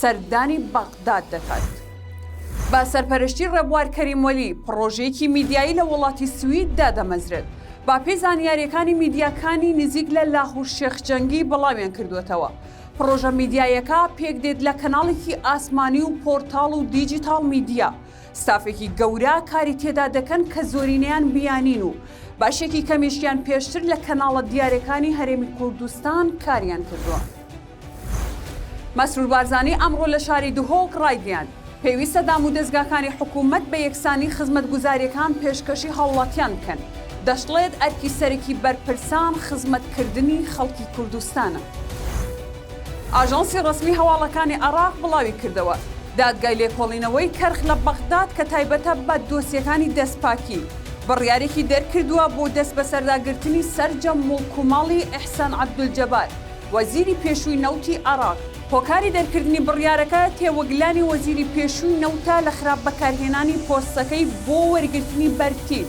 سەردانی بەغداد دەکات. بە سەرپەرشتی ڕێبوار کەریم وەلی، پڕۆژەیەکی میدیایی لە وڵاتی سوید دادەمەزرێت. بەپێی زانیارییەکانی میدیاکانی نزیک لە لاهور شێخ جەنگی بڵاویان کردووەتەوە، پڕۆژە میدیاییەکە پێکدێت لە کەناڵێکی ئاسمانی و پۆرتاڵ و دیجیتاڵ میدیا، ستافێکی گەورە کاری تێدا دەکەن کە زۆرینەیان بیانین و بەشێکی کەمیشیان پێشتر لە کەناڵە دیارەکانی هەرێمی کوردستان کاریان کردووە. مەسرور بارزانی ئەمڕۆ لە شاری دهۆک ڕایگەیاند، پێویستە دامودەزگاکانی حکوومەت بە یەکسانی خزمەتگوزارییەکان پێشکەشی هاوڵاتیان بکەن، دەشڵێت ئەرکی سەرەکی بەرپرسان خزمەتکردنی خەڵکی کوردستانە. ئاژانسی ڕەسمی هەواڵەکانی عێراق بڵاویکردەوە، دادگای لێکۆڵینەوەی کەرخ لە بەغداد کە تایبەتە بە دۆسیەکانی دەستپاکی، بڕیارێکی دەرکردووە بۆ دەستبەسەرداگرتنی سەرجەم موڵک و ماڵی ئیحسان عەبدولجەبار، وەزیری پێشووی نەوتی عێراق هۆکاری دەرکردنی بڕیارەکە، تێوەگلانی وەزیری پێشووی نەوتە لە خراپ بەکارهێنانی پۆستەکەی بۆ وەرگرتنی بەرتیل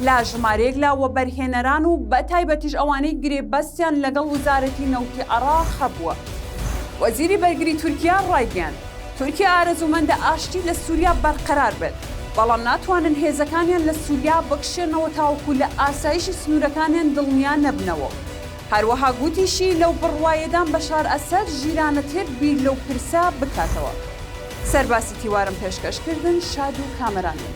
لە ژمارەیەک لە وەبەرهێنەران و بەتایبەتیش ئەوانەی گرێبەستیان لەگەڵ وزارەتی نەوتی عێراق هەبووە. وەزیری بەرگری تورکیا ڕایگەیاند، تورکیا ئارەزوومەندە ئاشتی لە سووریا بەرقەرار بێت، بەڵام ناتوانن هێزەکانیان لە سووریا بکشێنەوە تاوەکو لە ئاسایشی سنوورەکانیان دڵنیا نەبنەوە. هەروەها گوتیشی لەو بڕوایەدام بەشار ئەسەد ژیرانەتر بیر لەو پرسە بکاتەوە. سەر باسی تیوارم پێشکەش کردن شاد و کامەران بن.